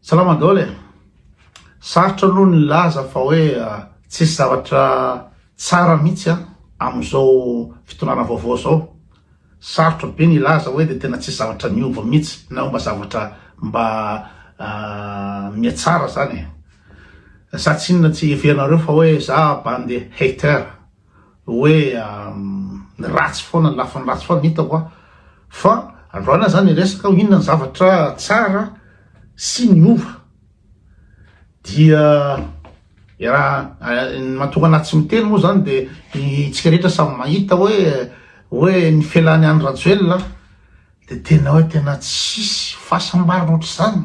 Salama daholo e! Sarotra aloha ny hilaza fa hoe tsisy zavatra tsara mihitsy amin'izao fitondrana vaovao izao. Sarotra be ny hilaza hoe dia tena tsisy zavatra niova mihitsy na hoe mba zavatra mba mihatsara izany e! Sa tsinona tsy heverinareo fa hoe za bande hater? hoe ny ratsy foana, ny lafiny ratsy foana hitako an! fa androany aza ny resaka hoe inona ny zavatra tsara sy niova dia ny mahatonga anah tsy miteny moa zany dia itsika rehetra samy mahita hoe hoe ny felan'i Andry Rajoelina Dia tena hoe tena tsisy fahasambarana ohatr'izany,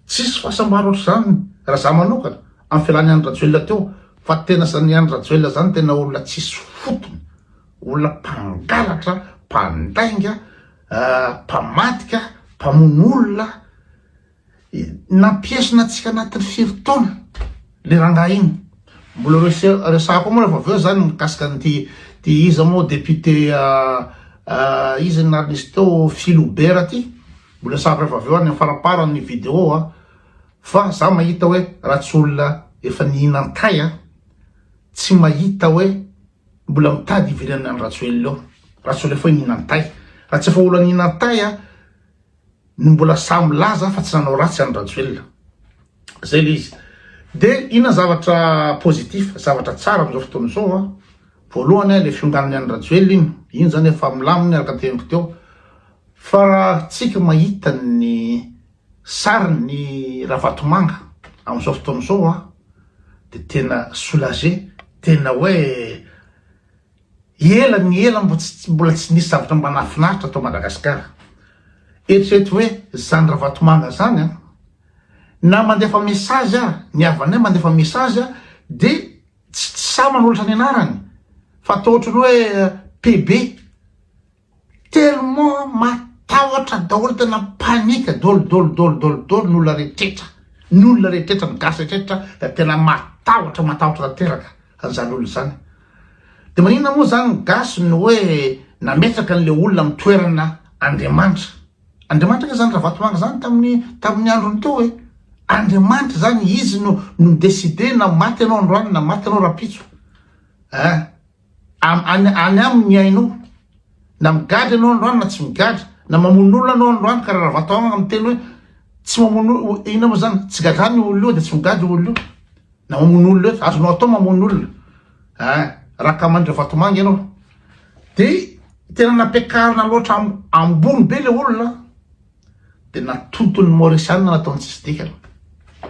tsisy fahasambarana ohatr'izany raha za manokana amin'ny fialany Andry Rajoelina teo fa tena zany Andry Rajoelina zany tena olona tsisy fotony, olona mpangalatra, mpandainga, mpamadika, mpamono olona. Nampiesona antsika anatin'ny firy taona le rangahy iny? Mbola resahako ao moa rehefa avy eo zany mikasika an'ity iza moa député iza ny anarany izy teo Philobert ty, mbola resahako rehefa avy eo any faramparany ny vidéo an, fa za mahita hoe raha tsy olona efa nihinan-tay an, tsy mahita hoe mbola mitady hividianana an'i Rajoelina eo, raha tsy olona efa nihinan-tay, raha tsy efa olona nihinan-tay an, ny mbola sahy milaza fa tsy nanao ratsy any Rajoelina zay le izy de ina zavatra positif zavatra tsara amizao fotoana izao a voalohany a le fionganany any Rajoelina iny iny zany efa milaminy araka ny teniko teo fa tsika mahita ny sariny Ravatomanga amizao fotoana izao a de tena soulager tena hoe Ela ny ela mbo tsy mbola tsy nisy zavatra mba nahafinaritra tao Madagascar. Eritrereto hoe zany Ravatomanga zany an! Na mandefa message aza ny havanay mandefa message de tsy tsy sahy manolotra ny anarany fa atao ohatran'ny hoe PB. Tellement matahotra daholo tena panique dol dol dol dol dol ny olona rehetra ny olona rehetra ny gasy rehetra dia tena matahotra matahotra tanteraka an'izany olona izany dia maninona moa izany ny gasy no hoe nametraka an'ilay olona amin'ny toerana Andriamanitra Andriamanitra ve izany Ravatomanga izany tamin'ny tamin'ny androny teo hoe Andriamanitra izany izy no no décidé na maty ianao androany na maty ianao rapitso eh Am, any, any aminy ny aina o. Na migadra ianao androany na tsy migadra, na mamono olona anao androany, karaha raha vatao agna miteny hoe tsy mamono o, inona moa zany, tsy gadrany io olona io dia tsy migadra io olona io, na mamono olona io, azonao atao mamono olona, eh, raha ka mandry vatomanga ianao. Dia tena nampiakarina loatra am, ambony be ilay olona an. Dia natonton' ny Maorisiana nataony tsisy dikany.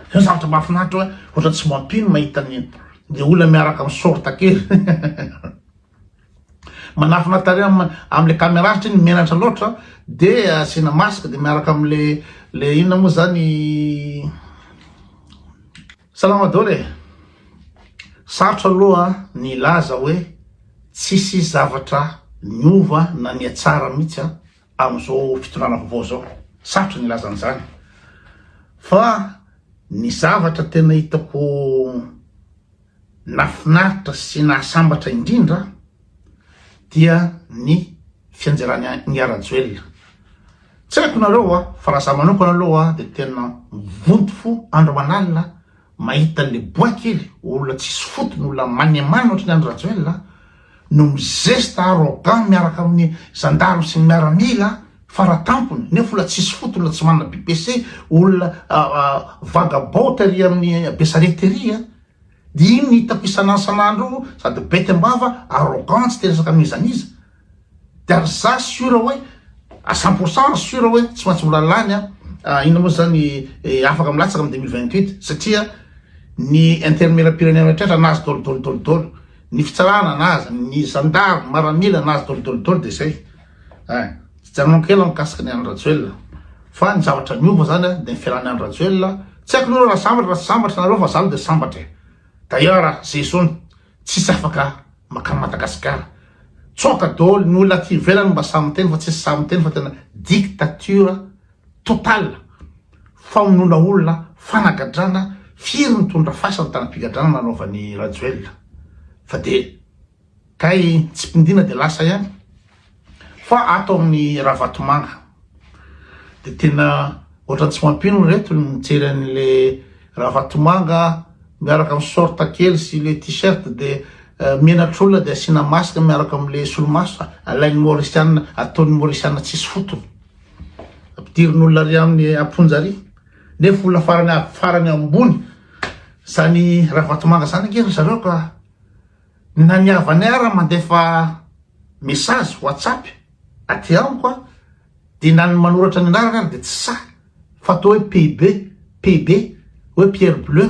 Izany zavatra mahafinaritra hoe ohatran'ny tsy mampino ny mahita ny le olona miaraka amin'ny sorta kely. Manafina tarehy amin'ny amin'ilay caméra satria ny menatra loatra dia asiana masque dia miaraka amin'le le inona moa zany Salama daholo e! Sarotra aloha ny hilaza hoe tsisy zavatra niova na nihatsara mihitsy an! Amin'izao fitondrana vaovao izao, sarotra ny hilaza an'izany, fa ny zavatra tena hitako nahafinaritra sy nahasambatra indrindra dia ny fianjeran'I Rajoelina. Tsy haiko nareo fa raha za manokana aloha dia tena mivonto fo andro aman'alina, Mahita an'i le bois kely olona tsisy fotony olona manemano ohatran'i Andry Rajoel a no mizesta arrogant miaraka amin'ny zandary sy ny miaramila fara tampony nefa olona tsisy fotony olona tsy manana BPC olona vagabond tery amin'ny Besarety tery a dia iny ny hitako isan'andro isan'andro sady bety am-bava arrogant tsy te resaka amin'iza n'iza Dia ary za sûr hoe à cent pour cent sûr hoe tsy maintsy mbola lany an, inona moa izany afaka milatsaka amin'ny deux mille vingt huit satria ny intermela-pirenena rehetra nahazo dôlidôly dôlidôly, ny fitsarana nahazo, ny zandary, ny maramila nahazo dôlidôly dôly dia izay. Eh, janonako kely mikasika ny an-dRajoelina fa ny zavatra niova izany an dia ny fialan'ny an-dRajoelina, tsy haiko aloha raha sambatra na tsy sambatra nareo fa za aloha dia sambatra e. D'ailleurs, Zay Zony, Tsisy afaka makany Madagascar. Tsoaka dôly ny olona aty ivelany mba sahy miteny fa tsisy sahy miteny fa tena dictature total. Famonoana olona, fanagadrana, firy nitondra fasana tany am-pigadrana nanaovan'i Rajoelina. Fa dia kay tsipindina dia lasa ihany. Fa ato amin'ny Ravatomanga dia tena ohatran'ny tsy mampino ry reto ny mijery an'le Ravatomanga miaraka amin'ny sorte kely sy le t-shirt dia eh, menatr'olona dia asiana masque miaraka amin'le solomaso alain'ny Mauriciana ataon'ny Mauriciana tsisy fotony ampidirin'olona ry amin'ny amponja ry nefa olona farany farany ambony zany Ravatomanga zany ange ry zareo ka Na ny havanay ara mandefa message whatsapp aty amiko a de na ny manoratra ny anarany ara de tsy sahy fa atao hoe pb pb hoe pierre bleu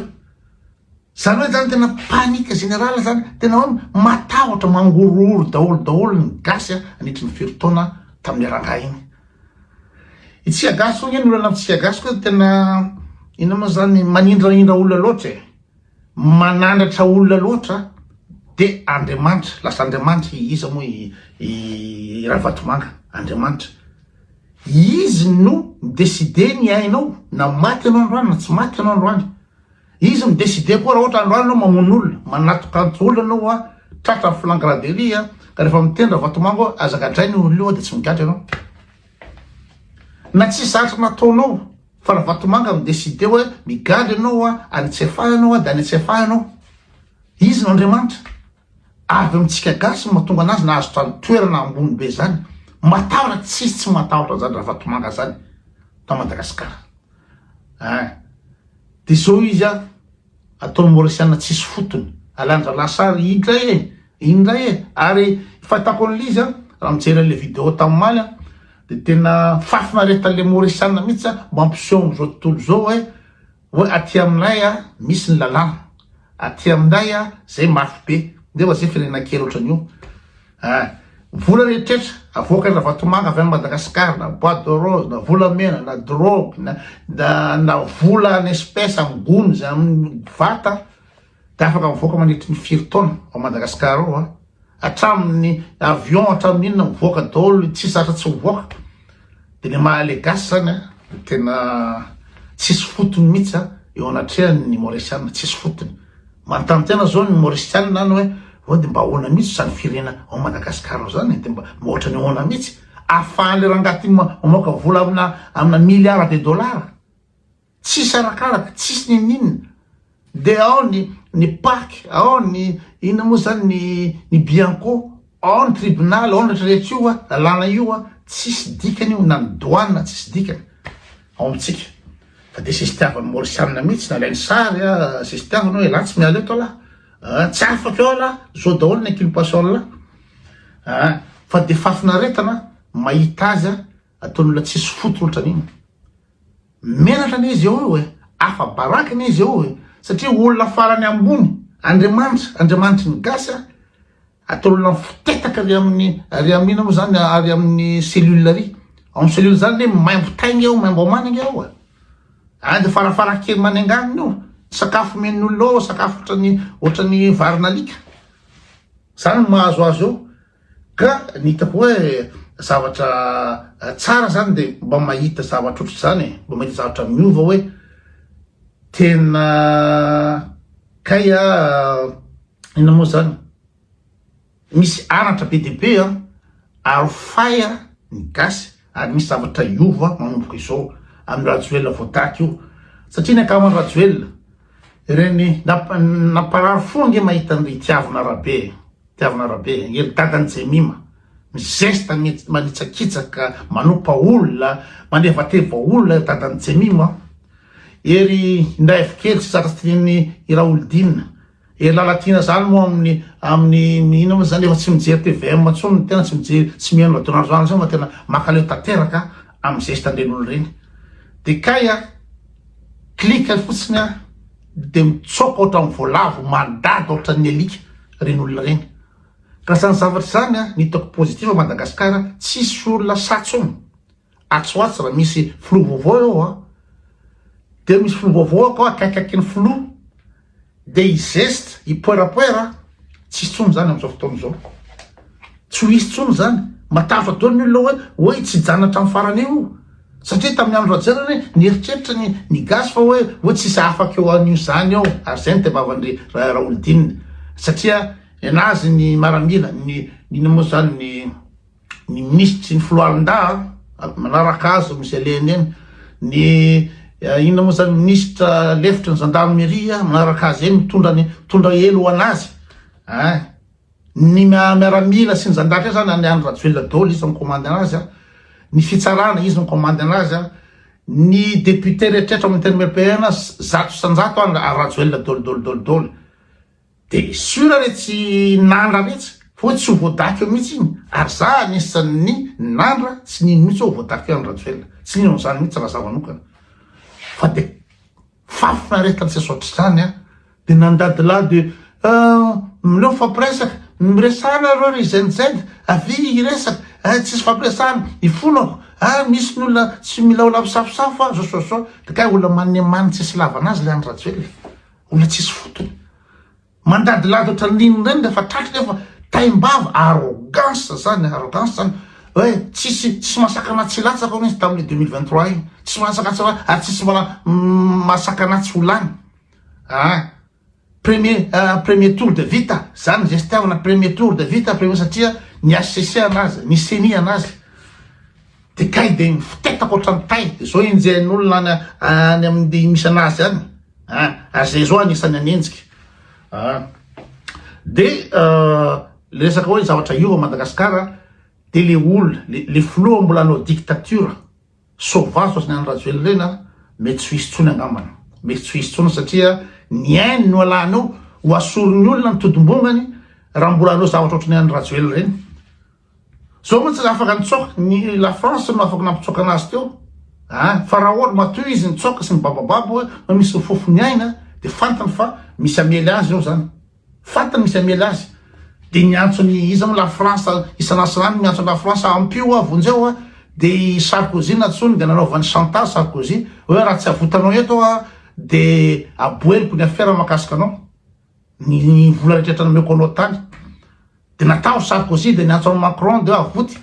zany hoe zany tena panique générale zany tena hoe matahotra mangorohoro daholo daholo ny gasy a anitry ny firy taona tamin'ny rangahy iny itsika gasy hoy nge ny olana amitsika gasy koa tena ina moa zany manindrahindra olona loatra e Manandratra olona loatra de Andriamanitra lasa Andriamanitra iza moa i Ravatomanga Andriamanitra izy no mi-decide ny ainao na maty ianao androany na tsy maty ianao androany izy mi-decide koa raha ohatra androany ianao mamono olona manatokanto olona ianao hoa tratra flagrant delit a ka rehefa miteny Ravatomanga hoe aza gadraina io olona io de tsy migadra ianao na tsy zatra nataonao Fa Ravatomanga mi decide hoe migadra ianao a, any tsy efaha ianao a, de any tsy efaha ianao. Izy no Andriamanitra. Avy amintsika gasy no mahatonga anazy nahazo zany toerana ambony be zany. Matahotra tsisy tsy matahotra anzany Ravatomanga zany tao Madagasikara. Ein. De zao izy a. Ataony Mauriciana tsisy fotony. Alan-dralahy sary indray e! Indray e! Ary fahitako an'ilay izy an, raha mijery an'ilay vidéo tamin'ny omaly aho dia tena fahafinaretan'ilay Mauriciana mihitsy an, mampiseho amin'izao tontolo izao hoe hoe aty aminay an misy ny lalàna, aty aminay an izay mafy be, nefa izay firenena kely ohatran'io. Eh! Vola re tretra, avoaka Ravatomanga avy any Madagascar na boite de rose na volamena na drogue na na na vola en espèce am gony zay am vata de afaka mivoaka mandritry ny firy taona ao Madagascar ao a! Hatramin ny avion hatramin inona mivoaka daholo tsy zatra tsy mivoaka. De ny maha le gasy zany a de tena tsisy fotony mihitsy a eo anatrehan' ny maorisiana tsisy fotony manontany tena zao ny maorisiana any hoe hoe de mba ahoana mihitsy zany firena ao madagasikara ao zany de mba mba ohatran'ny ahoana mihitsy ahafahan'le rangahy ty ma- mamoaka vola amina amina milliards de dollars Tsisy arakaraka, tsisy ninoninona. Dia ao ny ny pac, ao ny inona moa izany ny ny bianco, ao ny tribunal, ao ny rehetrarehetra io an, lalàna io an, tsisy dikany io na ny douane tsisy dikany ao amintsika. Fa dia sisitiavan'ny Maorisianina mihitsy nalainy sary an, sisitiavana hoe elah tsy miala eto alah an, tsy afaka eo alah, zao daholo ny inculpation lah an, fa dia fahafinaretana mahita azy an. Ataony olona tsisy fo tolotra an'iny. Menatra anie izy eo io e, afa-baraka anie izy eo e, satria olona farany ambony, Andriamanitra, Andriamanitry ny gasy a, ataony olona mifotetaka ary amin'ny, ary amin'ny inona moa zany, ary amin'ny cellule ary, ao amin'ny cellule zany anie maimbo tainga eo, maimbo amana anie ao e, any de farafarakely manenganina eo, ny sakafo omen'ny olona ao sakafo otrany, otrany varin'alika, zany no mahazo azy eo. Ka ny hitako hoe zavatra tsara zany de mba mahita zavatra ohatr'izany e, mba mahita zavatra miova hoe tena kay a inona moa zany misy anatra be dia be an, arofay a ny gasy ary misy zavatra hiova manomboka izao amin'i Rajoelina voataty io satria ny ankahaman'i Rajoelina ireny namparary fo ange mahita an'ireny tiavina Rabe e. Tiavina Rabeangelo, dadan'i Jemima, mizesta mihitsy, manitsakitsaka, manompa olona, manevateva olona dadan'i Jemima. Ery indray avy kely tsy zatra tilian'ny i Raholdina. Ery Lalatiana zany moa amin'ny amin'ny ino moa zany efa tsy mijery TVM intsony ny tena tsy mijery tsy mihaino radio nationale intsony fa tena makaleo tanteraka amin'ny zesta an-dreniny ireny. Dia kay a, clique fotsiny a, Dia mitsoaka ohatran'ny voalavo mandady ohatran'ny alika ireny olona ireny. Ka izany zavatra izany an, ny hitako positif à Madagascar, tsisy olona sahy tsony. Atsy ho atsy raha misy filoha vaovao eo an, dia misy filoha vaovao akao akaiky akaiky ny filoha, dia hi geste, hipoerapoera. Tsisy tsony izany amin'izao fotoana izao. Tsy ho hisy tsony izany. Matavy daholo ny olona hoe hoe tsy hijanona hatramin'ny farany io. Satria tamin'ny andro Rajaonana nieritreritra ny ny gasy fa hoe hoe tsisy afaka eo an'io izany eo ary izay ny tebavan'ny Raolodinina. Satria enazy ny maramila ny ny moa izany ny ny minisitra sy ny foloalindahy ah, manaraka azy misy alehany eny, ny eh, inona moa zany minisitra lefitry ny gendarmerie manaraka azy eny mitondra ny mitondra elo ho anazy ah, ny miaramila sy ny zandatra zany any any rajoelina dolo izy mikomandy anazy a ny fitsarana izy mikomandy anazy a ny député rehetrehtra amin'ny terme pn zato sanjato any rajoelina dolo dolo dolo dolo Dia sûr re tsy nandra mihitsy, hoy tsy ho voadaky eo mihitsy iny, ary za anisan'ny nandra tsy nino mihitsy hoe ho voadaky eo andry rajoelina, tsy nino an'izany mihitsy raha za manokana, fa dia fahafinaretana tsy azo atr'izany an, dia nandadilahy dia ah mileo mifampiresaka, miresahana nareo ry zen zen, avia hiresaka, ah tsisy fampiresahana, ifonako, ah misy ny olona tsy milaola misafosafo ah, zao zao zao, dia kay olona manimaniny tsisy ilavana azy ilay andry rajoelina. Olona tsisy fotony. Mandadilady ohatran'ny nino indray ny rehefa tratry nefa taim-bava, arrogance zany, arrogance zany. Hoe tsisy tsisy masakana tsy latsaka hono izy tamin'ny 2023 iny. Tsisy masaka tsy latsaka ary tsisy mbola masakana tsy ho lany. Ah, premier uh, premier tour de vita zany zay fitiavana premier tour de vita premier satria ny HCC anazy, ny CENI anazy. Ty kay de mifotetako otrany tay zao enjehin'olona any any aminy misy anazy any ary zay zao anisany hanenjika de le resaka oe zavatra hiova Madagascar de le olona le filoha mbola anao dictature sauvage otrany any Rajoelina reny an mety tsy ho hisy tsony angambany mety tsy ho hisy tsony satria ny ainy no alanao ho asorin'ny olona ny todim-bongany raha mbola anao zavatra otrany any Rajoelina reny Zao mantsy tsy afaka nitsoaka, ny la France no afaka nampitsoaka anazy teo. Ah, fa raha ohatra matoy izy nitsoaka sy mibabababa hoe hoe misy ny fofony aina dia fantany fa misy hamely azy eo zany. Fantany misy hamely azy. Dia niantso ny iza moa la France isan'asan'andro miantso la France ampio ah vonjeo ah dia i Sarkozy nantsoiny dia nanaovany chantage Sarkozy hoe raha tsy avotanao eto ah dia aboeniko ny afera makasika anao. Ny vola rehetra nomeko anao tany de natao Sarkozy de niantso an'i Macron de avoty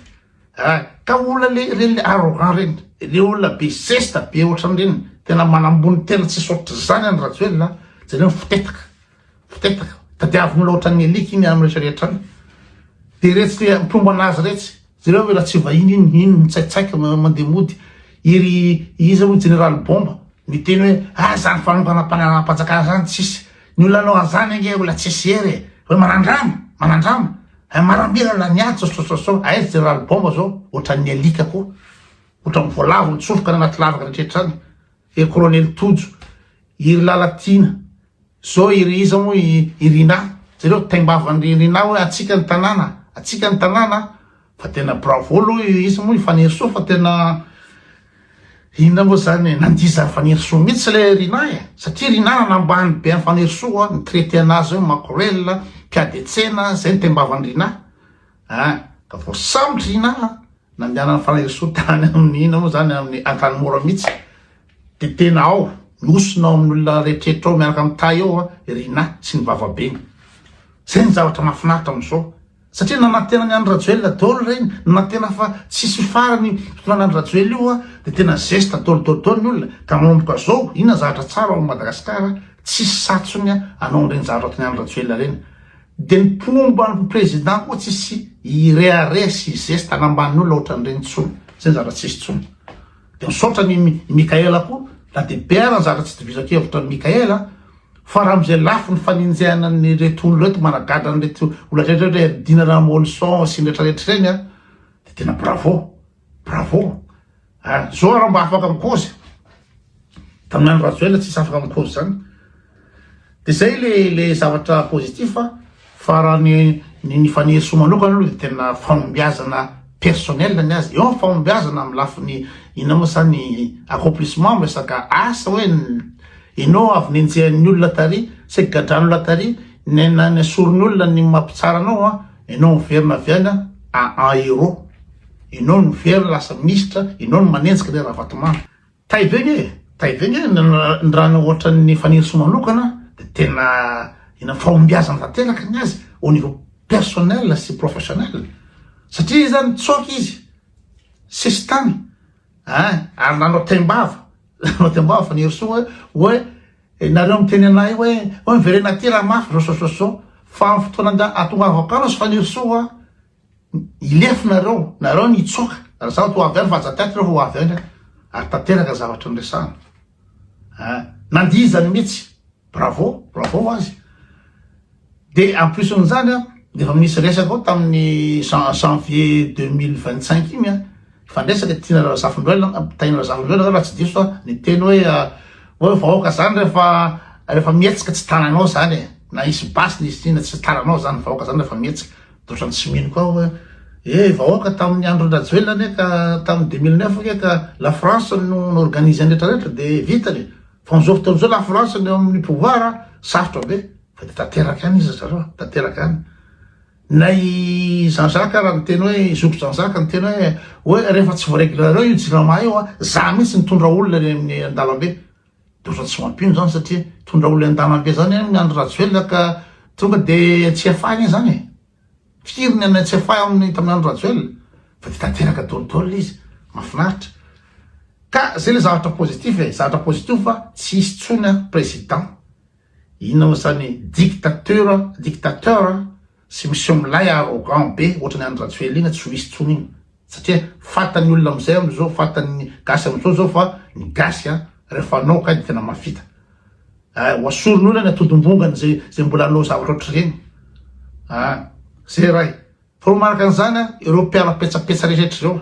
eh, ka olona le reny le arrogant reny le olona be zesta be ohatran'ireny tena manambony tena tsisy ohatr'izany any Rajoelina jereo ny fitetaka fitetaka tadiaviny loatra ny eliky iny amin'ny rehetra rehetra any de retsy le mpiombana azy retsy Jereo ve ratsy vahiny iny iny mitsaitsaika mandeha mody iry iza moa jeneraly bomba miteny hoe ah zany fanonganam-panjakana zany tsisy ny olona anao an'zany ange olona tsisy hery e hoe manandrama manandrama eh, maramilana ny ady sosososo aiza jeneraly bomba zao ohatran'ny alika koa ohatran'ny voalavo nitsofoka ny anaty lavaka rehetra any ery kolonely tojo iry lalatiana Zao i Riiza moa i i Rinah, jereo taimbavan-dry Rinah hoe hatsiaka ny tanàna a, hatsiaka ny tanàna a, fa tena bravo aloha i iza moa i Fanirisoa fa tena inona moa zany e, nandia zany Fanirisoa mihitsy le Rinah e, satria Rinah nanambany be an'i Fanirisoa, ni-traiter anazy hoe makorel a, mpiady an-tsena a, zay ny taimbavan-dry Rinah a, ka voasambotry Rinah a, nandehanan'i Fanirisoa tany amin'ny inona moa zany, amin'ny Antanimora mihitsy. Dia tena ao, nosy nao amin'ny olona rehetrrehetra ao miaraka amin'ny tay ao i Rinah sy ny vavabeny. Izay ny zavatra mahafinaritra amin'izao. Satria nanantena ny Andry Rajoelina daholo ireny, nanantena fa tsy hisy farany io fitondrana Andry Rajoelina io dia tena zesta daholo daholo daholo ny olona. Ka manomboka izao, inona ny zavatra tsara ao amin'i Madagasikara, tsisy satsony hanao an'ireny zavatra ataon'i Andry Rajoelina ireny. Dia ny mpomba ny président koa tsisy hirehareha sy hizesta hanambany olona ohatran'ireny intsony. Izay ny zavatra tsisy intsony. Dia misaotra an' i Mickaël koa, na dia be ara ny zavatra tsy itovizan-kevitra amin' i Mickaël an, fa raha amin'izay lafiny fanenjehana an'ireto olona ireto managadra an'ireto olona rehetra ireto hoe ry Dina Ramoelison sy ny rehetra rehetra ireny an, dia tena bravo, bravo an! Izao ary aho mba afaka mikozy, tamin'ny andro Rajoelina tsisy afaka mikozy izany. De zay le le zavatra positif a, fa raha ny ny ny Fanirisoa manokana aloha de tena fahombiazana personnel ny azy, eo ny fahombiazana amin'ny lafiny inona moa zany accomplissement amin'ny resaka asa hoe enao avy nenjehan'ny olona tary, saika gadran'olona tary, ne na nesorin'ny olona ny maha mpitsara anao a, enao miverina avy any a en en héros, enao no miverina lasa minisitra, enao no manenjika le Ravatomanga. Taivegna e! Taivegna e! Ny raha ohatran'ny Fanirisoa manokana dia tena ina fahombiazana tanteraka ny azy au niveau personnel sy professionnel satria izy zany tsoaka izy sesitany ah ary nanao taimbava nanao taimbava Fanirisoa hoe nareo miteny anay hoe hoe miverena aty raha mafy zao zao zao zao fa amin'ny fotoana atonga avokana sy Fanirisoa Hilefy nareo, nareo no hitsoaka, raha zaho toa avy any fa aza taiky reo fa ho avy any aho, ary tanteraka ny zavatra noresahana. Ah, nandia izany mihitsy, bravo, bravo ho azy. Dia en plus n'izany an, efa misy resaka ao tamin'ny jan- janvier 2025 iny an, fandresaka Tiana Razafindoelina, Tahiana Razafindoelina angamba raha tsy diso aho, niteny hoe ah, hoe vahoaka izany rehefa rehefa mihetsika tsy tananao izany e, na hisy basy na hisy inona tsy tananao izany, vahoaka izany rehefa mihetsika. Otrany tsy mino koa aho e! Eh vahoaka tamin'ny andron'i Rajoelina anie ka tamin'ny deux mille neuf ange ka la France no organise ny rehetra rehetra dia vita le! Fa amin'izao fotoana izao la France no eo amin'ny pouvoir a! Sarotra be! Fa dia tanteraka any izy ry zareo a! Tanteraka any! Na i Jean-Jacques ara niteny hoe, i zoky Jean-Jacques niteny hoe hoe rehefa tsy voareglera reo io jirama io a! Za mihitsy nitondra olona eny amin'ny an-dalambe! Doza tsy mampino zany satria tondra olona andanambe zany any Andry Rajoelina ka tonga de tsy efahy anie zany e! firy ny anay tsy efahy aminy tamin'ny Andry Rajoelina fa de tanteraka dolidoly le izy, mafinaritra ka zay le zavatra positif e, zavatra positif fa tsy hisy tsony a president inona mo zany dictateur dictateur Tsy miseho milay arrogant be otrany any Rajoelina tsy ho hisy tsony iny satria fatany olona amizay amizao fatany gasy amizao zao fa ny gasy a refa anao kay de tena mavita eh ho asoriny olona ny atodimbongany zay zay mbola anao zavatra otrreny ah zay ray fa manaraka anizany a ireo mpiala petsapetsa rehetra ireo.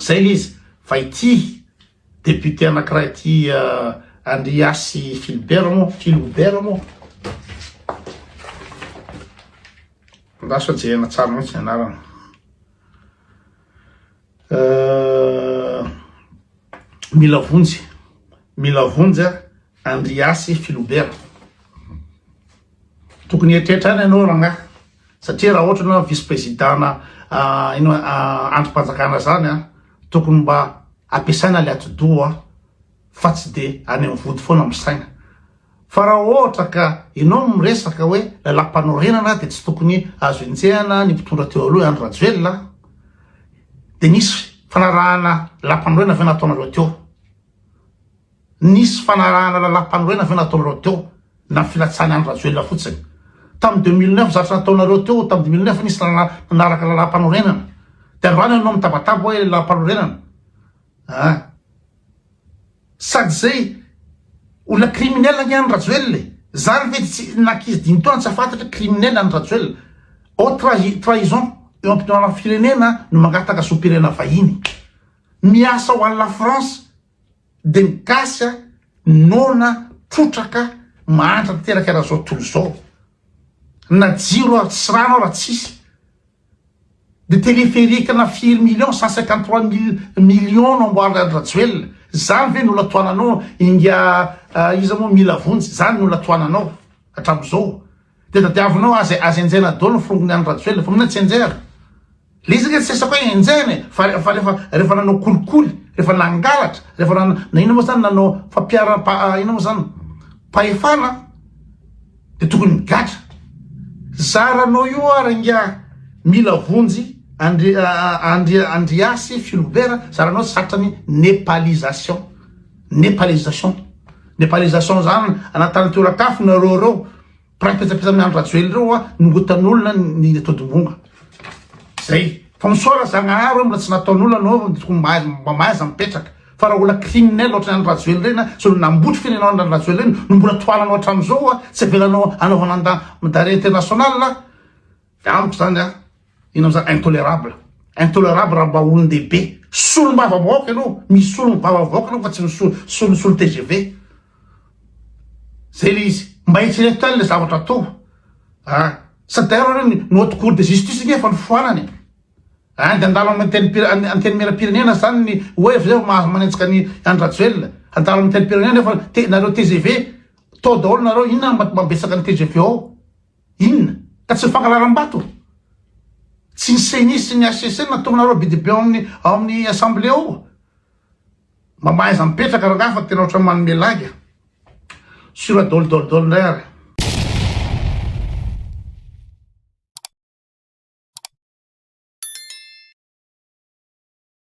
Zay le izy fa ity député anakiray ity Andriasy Philbert moa Philobert moa andraso jerena tsara mihitsy ny anarany mila vonjy mila vonjy a Andriasy Filobera. Tokony hieritreritra any ianao rangahy satria raha ohatra ianao vice président-na ino andrim-panjakana izany a, tokony mba ampiasaina ilay atidoha fa tsy dia any amin'ny vody foana misaina. Fa raha ohatra ka ianao no miresaka hoe lalam-panorenana dia tsy tokony azo enjehana ny mpitondra teo aloha i Andry Rajoelina a. Dia nisy fanarahana lalam-panorenana ve nataonareo teo? Nisy fanarahana lalam-panorenana ve nataonareo teo na filatsahan'i Andry Rajoelina fotsiny? Tamin'ny deux mille neuf zavatra nataonareo teo tamin'ny deux mille neuf nisy nanaraka lalam-panorenana dia androany ianao mitabataba hoe lalam-panorenana ah sady izay olona criminel ange Andry Rajoelina e zany ve tsy nankizy dimy taona tsy afantatra criminel Andry Rajoelina au trahi trahison eo am-pitondrana firenena no mangataka zom-pirenena vahiny miasa ho an'i la France Dia ny gasy a, noana, trotraka, mahantra tanteraka raha zao tontolo zao. Na jiro aza tsy rano aza tsisy. Dia téléphérique na firy millions, cent cinquante trois mille millions no amboarin'i Andry Rajoelina. Zany ve no olatoananao ingahy iza moa Milavonjy, zany no olatoananao hatramin'izao. Dia tadiavinao azy azy enjehina daholo ny forongony any Rajoelina fa mila tsy enjehina. Le izy ange tsy resako hoe enjehina e fa fa refa refa nanao kolikoly, refa nangalatra, refa na na inona moa zany nanao fampiharam pa inona moa zany pahefana de tokony migadra. Zaranao io ary ingahy mila vonjy Andri Andri Andriasy Filobera zaranao satrany nepalisation. Nepalisation. Nepalisation zany anatany tora kafo nareo reo mpray petsapetsa amin'ny Andry Rajoely reo a nongotan'olona ny atodimbonga. Zay. Fa misaora Zagnahary mbola tsy nataon'olona anao tokony mba mahaiza mipetraka. Fa raha olona criminel ohatran'ny Andry Rajoely reny a zao nambotry firenao Andry Rajoely reny no mbola tohananao hatramin'izao a tsy avelanao anaovana mandat d'arret international a. Dia amiko izany an, inona moa izany intolerable, intolerable raha mba olon-dehibe, solombavambahoaka ianao, misolo ny vavambahoaka ianao fa tsy misolo solo tgv. Zay le izy, mba eritrereto ihany le zavatra atao a, sa d'ailleurs hono ny haute cour de justice nge efa nifoanana e, a dia handalo amin'ny antenimierampirenena izany ny hoe avy eo mahazo manenjika an'i Andry Rajoelina, handalo amin'ny antenimierampirenena nefa nareo tgv tao daholo nareo, inona no mba mambetsaka ny tgv ao? Inona? Ka tsy ny fankararam-bato? Tsy ny ceni sy ny HCC no natoronareo be dia be ao amin'ny ao amin'ny assemblée ao? Mba mahaiza mipetraka rangahy fa tena ohatran'ny manome laga. Sur dol dol dol indray ary.